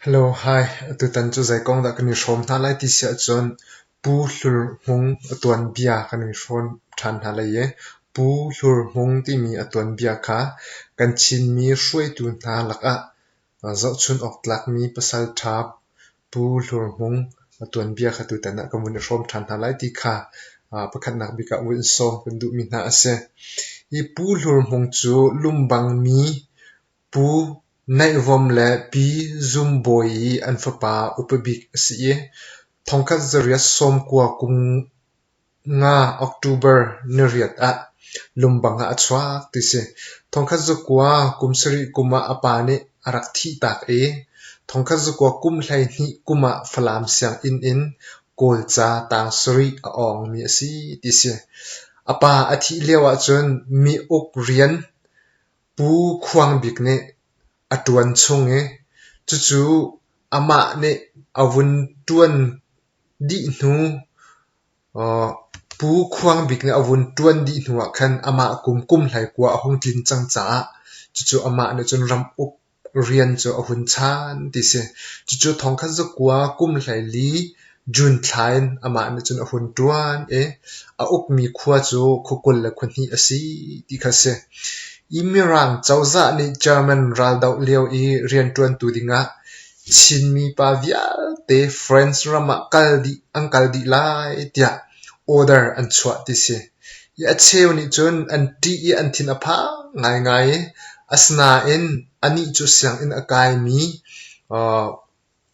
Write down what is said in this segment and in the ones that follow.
Hello, hi. Tutan cu zei kong dah kan i hrawm hna lai ti si ahcun Pu Hlur Hmung a tuanbia kan i hrawm ṭhan hna lai i Pu Hlur Hmung timi a tuanbia kha kan Chinmi hruaitu hna lakah zohchunh awk tlakmi pasal ṭha Pu Hlur Hmung a tuanbia kha tutan ah kan vun i hrawm ṭhan hna lai ti kha pakhatnak bik ah vun sawm kan duhmi hna a si. Hi Pu Hlur Hmung cu Lumbangmi Pu Neih Vawm le Pi Zum Bawi i an fapa upa bik a si i thongkhat zariat sawmkua kum nga October niriat ah lungbang ah a chuak ti si. Thongkhat zakua kum sarih kum ah a pa nih a rak thih tak i thongkhat zakua kum hleihnih kum ah Falam sianginn in Kawlca tang sarih a awngmi a si ti si. A pa a thih lio ahcun mi uk rian Pu Khuang Bik nih a ṭuan chung i cucu amah nih a vun ṭuan dih hnu Pu Khuang Bik nih a vun ṭuan dih hnuah khan amah kum kum hlei kua a hung tlin cang caah cucu amah nih cun ram uk Rian cu a hun chan ti si. Cucu thongkhat zakua kum hleili June thla in amah nih cun a hun ṭuan i a ukmi khua cu khua kul le khua hnih a si ti kha a si. I Mirang cozah nih German raldoh lio i rianṭuantu dingah Chinmi pa vialte France ram ah kal dih an kal dih lai tiah order an chuah ti si. A cheu nih cun an ṭih i an thin a phang ngaingai. Asinain anih cu sianginn a kaimi,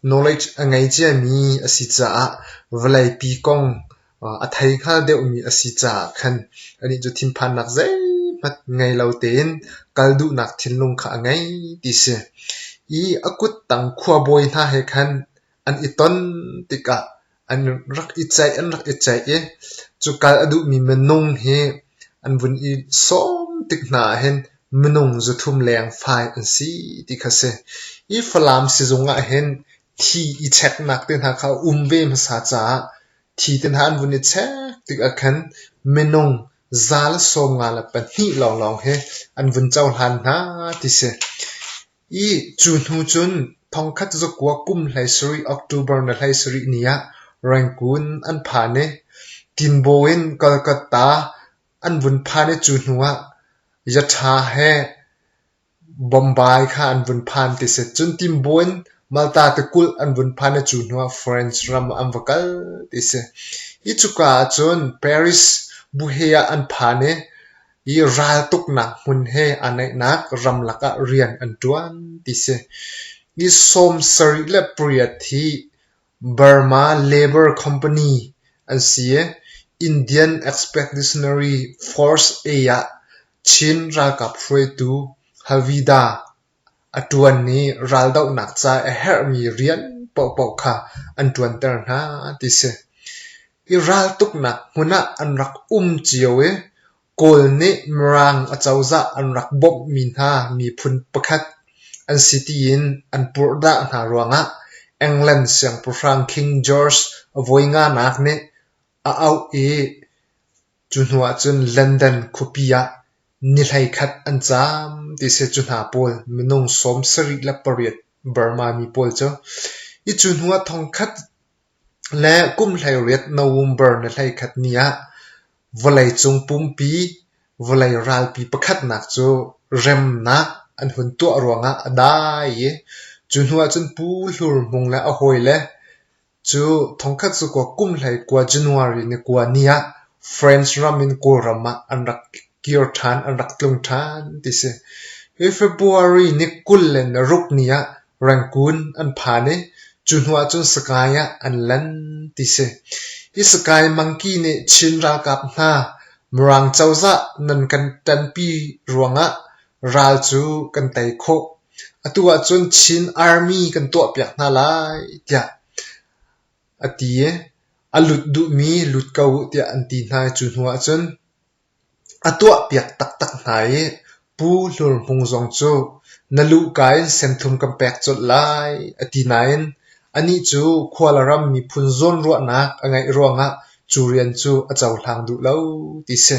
knowledge a ngei ciami a si caah vawleipi kong a thei hngal deuhmi a si caah khan anih cu thinphannak zeihmanh ngei lo tein kal duhnak thinlung kha a ngei ti si. I a kuttang khuabawi hna he khan an i ton tikah an rak i ceih an rak i ceih i cu kal a duhmi minung hi an vun i sawm tik hna ahhin minung zuthum leng fai an si ti kha si. Hi Falam sizung ahhin thi i cheknak te hna kha a um ve hmasa caah thi te hna an vun i chek tik ahkhan minung za le sawm nga le pahnih lawnglawng hi an vun cohlan hna ti si. I cu hnu cun thongkhat zakua kum hleisarih October ni hleisarih ni ah Rangoon an phan i Tinbo in Kolkata an vun phan i cu hnu ah Yatha he Bombay kha an vun phan ti si. Cun Tinbo in Malta tikulh an vun phan i cu hnu ah France ram ah an va kal ti si. Hi cuka ah cun Paris buhe ah an phan i i raltuknak hmun he aa naihnak ramlak ah rian an ṭuan ti si. Ni sawm sarih le pariat hi Burma Labour Company an si i Indian Expeditionary Force A ah Chin ralkap hruaitu Havida A ṭuan i raldohnak ca a herhmi rian paohpaoh kha an ṭuanter hna ti si. I raltuknak hmun ah an rak um cio i Kawl nih Mirang acozah an rak bawmhmi hna miphun pakhat an si tiin an purhdah hna ruangah England siangpahrang King George a voi nganak nih a auh i Cu hnu ahcun London khuapi ah ni hleikhat an caam ti a si. Cu hna pawl minung sawm sarih le pariat Burma mi pawl cu i cu hnu ah thongkhat le kum hleiriat November ni hleikhat ni ah vawleicung pumpi vawlei ralpi pakhatnak cu remnak an hun tuah ruangah a dai i cu hnu ahcun Pu Hlur Hmung le a hawi le Cu thongkhat cu kua kum hlei kua January ni kua ni ah France ram in Kawlram ah an rak kir ṭhan, an rak tlung ṭhan ti si. Hi February ni kul le naruk ni ah Rangoon an phan i cu hnu ah cun Sagaing ah an lan ti si. Hi Sagaing mangki nih Chin ralkap hna Mirang cozah nan kan ṭanpi ruangah ral cu kan tei khawh atu ahcun Chin Army kan tuahpiak hna lai tiah a ti i a lut duhmi lut ko uh tiah an ti hna i cu hnu ahcun a tuahpiak taktak hna i Pu Hlur Hmung zong cu na luhka in senthum kan pek colh lai a ti nain anih cu Khualaram miphun zawnruahnak a ngeih ruangah cu rian cu a cohlang duh lo ti si.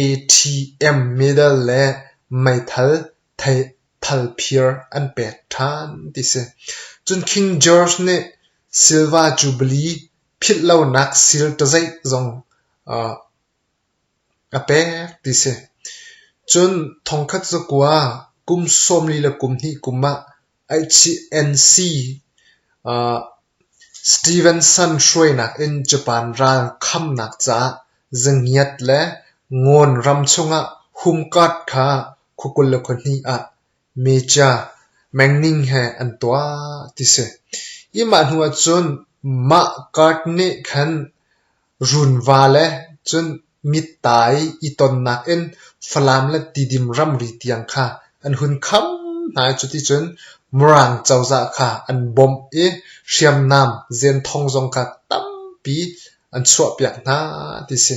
ATM medal le meithal thalphir an pek ṭhan ti si. Cun King George nih Silva Jubilee philhlonak sir ṭazeih zong a pek ti si. Cun thongkhat zakua kum sawmli le kum hnih kum ah HNC Stevenson hruainak in Japan ral khamnak caah zangiat le Ngawn ram chungah home guard kha khua kul le khua hnih ah Major Manning he an tuah ti si. Hi mah hnu ahcun mah guard nih khan Runva le cun mitta i i tonnak in Falam le Tidim ramri tiang kha an hun kham hna i cuticun Mirang cozah kha an bawmh i hriamnam zenthong zong kha tampi an chuahpiak hna ti si.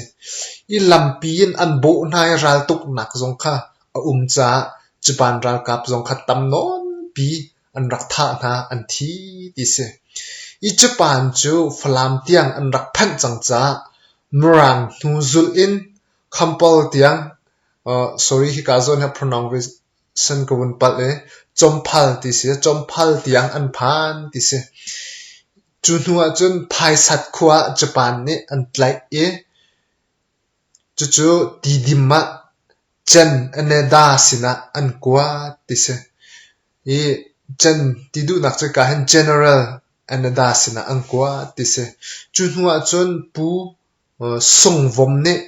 I lampi in an bawh hna i raltuknak zong kha a um caah cupan ralkap zong kha tam nawnpi an rak thah hna an thi ti si. I cupan cu Falam tiang an rak phanh cang caah Mirang hnu zulh in Khampol tiang uh, sorry hika zawn hi pronoun san ka vun palh i Chomphal ti si Chomphal tiang an phan ti si. Cu hnu ah cun Phaisat khua ah Japan nih an tlaih i cucu Tidim ah Chen Aneda sinah an kuat ti si. i can ti duhnak cu kaa hin general Anada sinah an kua ti si. Cu hnu ahcun Pu Sung Vom nih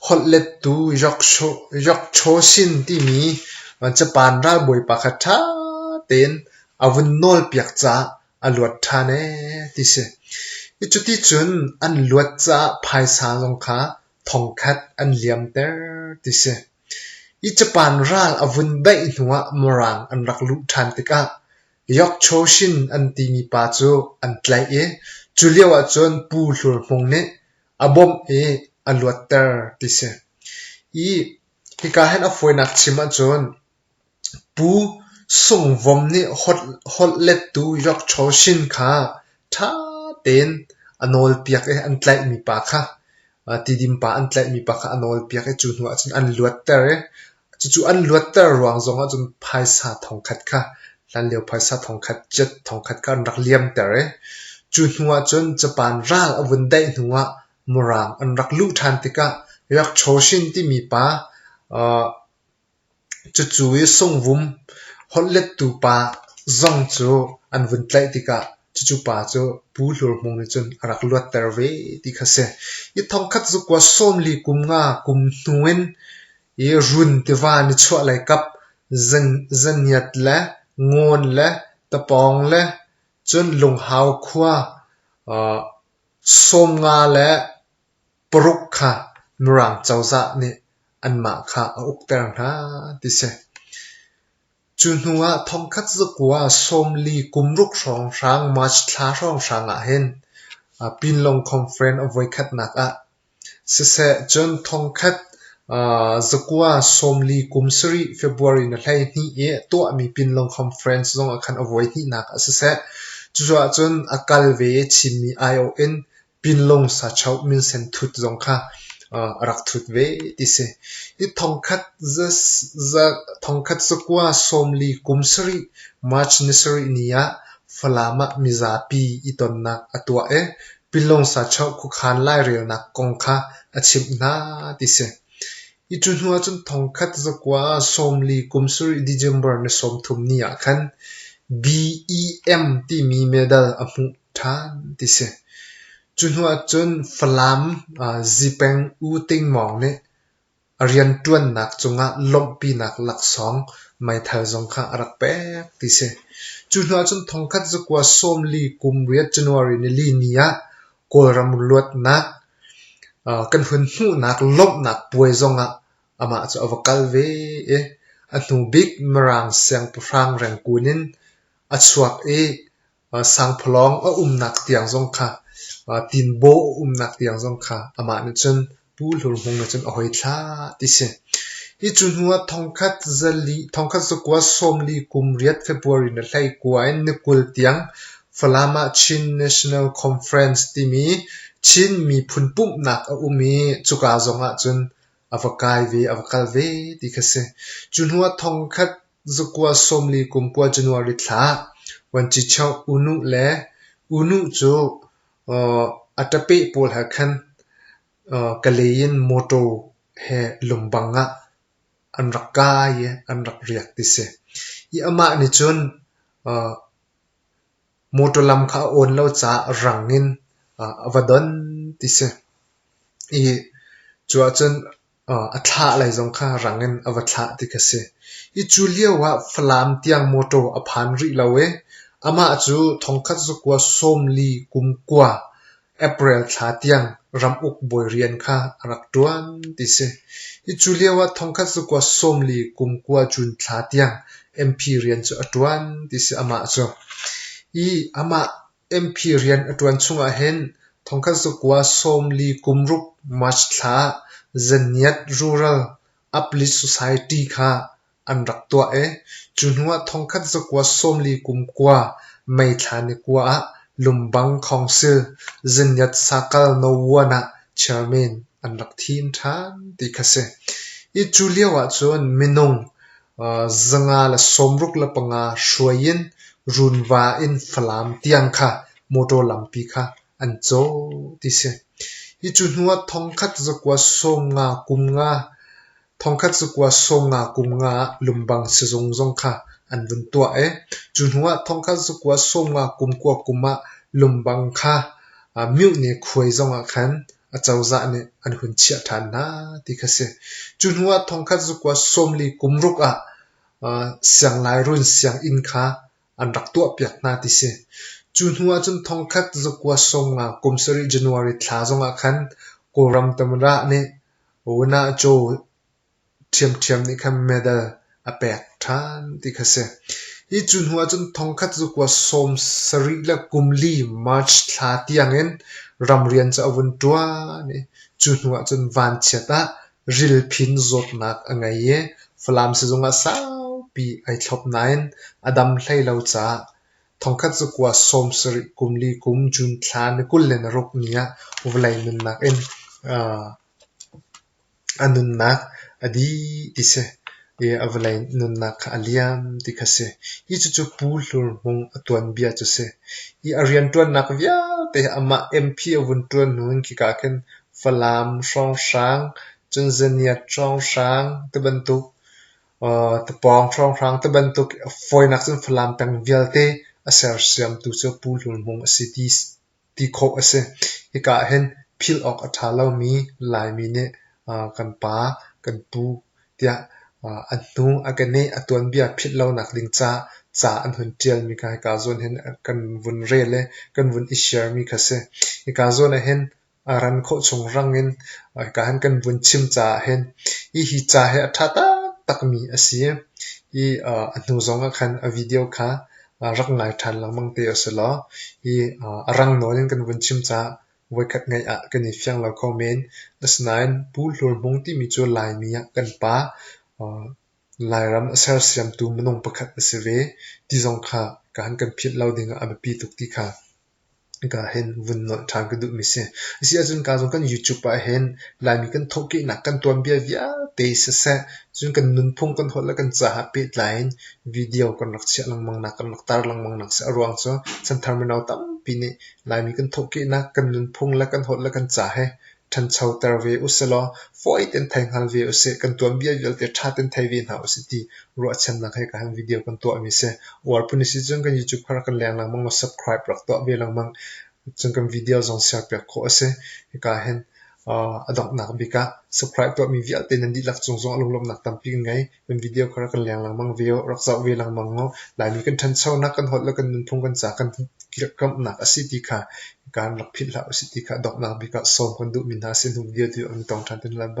holhlettu Yokchoshin timi Japan ralbawipa kha ṭha tein a vun nawlpiak caah a luat ṭhan ee ti si. I cuti cun an luat caah phaisa zong kha thongkhat an liamter ti si. I capan ral a vun beih hnuah Morang an rak luh ṭhan tikah Yokchoshin an timi pa cu an tlaih i cu lio ahcun Pu Hlur Hmung nih a bawmh i a luatter ti si. I hika hen a fawinak chim ahcun Pu Sung Vom nih holhlettu Yokchaw Shin kha ṭha tein a nawlpiak i an tlaihmi pa kha tidim pa an tlaihmi pa kha a nawlpiak i cu hnuah cun an luatter i cucu an luatter ruang zongah cun phaisa thongkhat kha hlanlio phaisa thongkhat jet thongkhat kha an rak liamter i cu hnuah cun Japan ral a vun daih hnuah Murang an rak luh ṭhan tikah Yokchaw Shin timi pa Cucu i sungvum holhlettu pa zong cu an vun tlaih tikah cucu pa cu Pu Hlur Hmung nih cun a rak luatter ve ti kha si. I thongkhat zukua sawmli kum nga kum hnu in i run tiva nichuahlei kap zaniat le ngawn le tapawng le cun Lunghau khua sawmnga le paruk kha Mirang cozah nih anmah kha a ukter hna ti si. Cu hnu ah thongkhat zakua sawmli kumruk hrawnghrang March thla hrawnghrang ah hin Pinlong Conference a voikhatnak ah siseh cun thongkhat zakua sawmli kum sarih February na hlei hnih i tuahmi Pinlong Conference zong ah khan a voi hnihnak ah siseh cucu ahcun a kal ve i chinmi aiawh in pinlung sachoh minsen thut zong kha a rak thut ve ti si. Hi thongkhat zakua sawmli kum sarih March ni sarih ni ah Falam ah mizapi i tonnak a tuah i pinlung sachoh khuakhan lairelnak kong kha a chimh hna ti si. Hi cu hnu ahcun thongkhat zakua sawmli kum sarih December ni sawmthum ni ah khan BEM timi medal a hmuh ṭhan ti si. Cu hnu ahcun Falam zipeng U Ting Mawng nih a rianṭuannak cungah lawmhpinak laksawng meithal zong kha a rak pek ti si. Cu hnu ahcun thongkhat zakua sawmli kum riat January nili ni ah Kawlram luatnak kan hun hmuhnak lawmhnak puai zongah amah cu a va kal ve i a hnu bik Mirang siangpahrang Rengkun in a chuak i sangphawlawng a umnak tiang zong kha tinbaw a umnak tiang zong kha amah nih cun Pu Hlur Hmung nih cun a hoi thlah ti si. Hi cu hnuah thongkhat zali thongkhat zakua sawmli kum riat February na hlei kua in ni kul tiang Falama Chin National Conference timi Chin miphun pumhnak a um i cuka zongah cun a va kai ve a va kal ve ti kha si. Cu hnuah thongkhat Zakua sawmli kum kua January thla Vuancicheu unu le unu cu a ṭapeh pawl he khan Kalay in mawṭaw he lungpang ah an rak kai i an rak riak ti si. I amah nih cun mawṭaw lam kha a awn lo caah rang in a va don ti si. I cu ah cun a thlah lai zong kha rang in a va thlah ti kha si. Hi cu lio ah Falam tiang mawṭaw a phan rih lo i amah cu thongkhat zakua sawmli kum kua April thla tiang ramuk bawi rian kha a rak ṭuan ti si. Hi cu lio ah thongkhat zakua sawmli kum kua June thla tiang MP rian cu a ṭuan ti si amah cu. Hi amah MP rian a ṭuan chungah hin thongkhat zakua sawm li kum ruk March thla Zaniat Rural Uplift Society kha an rak tuah i cu hnuah thongkhat zakua sawm li kum kua May thla ni kua ah Lumbang Council Zaniat Sakal No One ah chairman an rak thi in ṭhan ti kha si. Hi cu lio ahcun minung Zanga le sawmruk le panga hruai in runva in Falam tiang kha motor lampi kha an caw ti si. Hi cu hnu ah thongkhat zakua sawm nga kum nga, thongkhat zakua sawm nga kum nga ah Lumbang sizung zong kha an vun tuah i cu hnu ah thongkhat zakua sawm nga kum kua kum ah Lumbang kha Myohne khuai zong ah khan acozah nih an hun chiah ṭhan hna ti kha si. Cu hnu ah thongkhat zukua sawmli kum ruk ah sianglai-run sianginn kha an rak tuahpiak hna ti si. Cu hnu ah cun thongkhat zukua sawmnga kum sarih January thla zong ah khan Kawlram Tamra nih Wanajo ṭhiamṭhiam nih khan medal a pek ṭhan ti kha a si. Hi cu hnuah cun thongkhat cu kua sawm sarih le kum li March thla tiangin ramrian cu a vun ṭuan i cu hnuah cun vanchiat ah rilphin zawtnak a ngei i Falam sizung ah saupi ai thlop nain a dam hlei lo caah thongkhat cu kua sawm sarih kum li kum June thla ni kul le naruk ni ah vawlei nunnak in a nunnak a dih ti si i a vawlei nunnak kha a liam ti kha si. Hi cucu Pu Hlur Hmung a tuanbia cu si. Hi a rianṭuannak vialte hi amah MP a vun ṭuan hnu in khika ah khin Falam hrawnghrang, Cunzaniat hrawnghrang ti bantuk, uh, Tapawng hrawnghrang ti bantuk i a fawinak cun Falam peng vialte a sersiamtu cu Pu Hlur Hmung a si ti ti khawh a si. Hika ah hin philh awk a ṭha lomi Laimi nih kan pa, kan pu tiah a hnu a keneh a tuanbia philh lonak ding ca ca an hun ṭialmi kha hika zawn hin kan vun rel i kan vun i sharemi kha a si. Hika zawn ah hin a ran khawh chung rang in hika hin kan vun chim caah hin hi hi ca hi a ṭha taktakmi a si i a hnu zong ah khan a video kha rak ngai ṭhan lengmang te a si law, hi a rang nawl in kan vun chim caah voikhat ngaih ah kan i fiang lo kho men. Asinain Pu Hlur Hmung timi cu Laimi ah kan pa, Lairam a sersiamtu minung pakhat a si ve ti zong kha ka han kan philh lo ding ah a biapi tuk ti kha. Ka hin vun nolh ṭhan ka duhmi si. Asi ahcun ka zong kan YouTube ah hin Laimi kan thawhkehnak kan tuanbia vialte siseh, cun kan nunphung kan holh le kan caah pehtlai in video kan rak chiah lengmang nak, kan rak tar lengmang nak si. Aruang cu chanthar mino tampi nih Laimi kan thawhkehnak, kan nunphung le kan holh le kan ca he ṭhanchoter ve usilaw fawi tein thei hngal ve usih. Kan tuanbia vialte ṭha tein thei ve hna usih ti ruahchannak he ka han video kan tuahmi si. Uarpun isi cun kan YouTube kar kan leng lengmang lo subscribe rak tuah ve lengmang. Cun kan video zong share piak khawh asi. Hika hen a donghnak bik ah subscribe tuahmi vialte nan dihlak cung zong a lunglawmhnak tampi kan ngei. Kan video kha rak kan leng lengmang ve u, rak zoh ve lengmang u. Laimi kan ṭhanchonak kan holh le kan nunphung kan ca kan kirhkamhnak a si ti kha kaan rak philh hlah u sih ti kha donghnak bik ah sawm kan duhmi hna sin hnu video tu an i tong ṭhan te hna lai ba.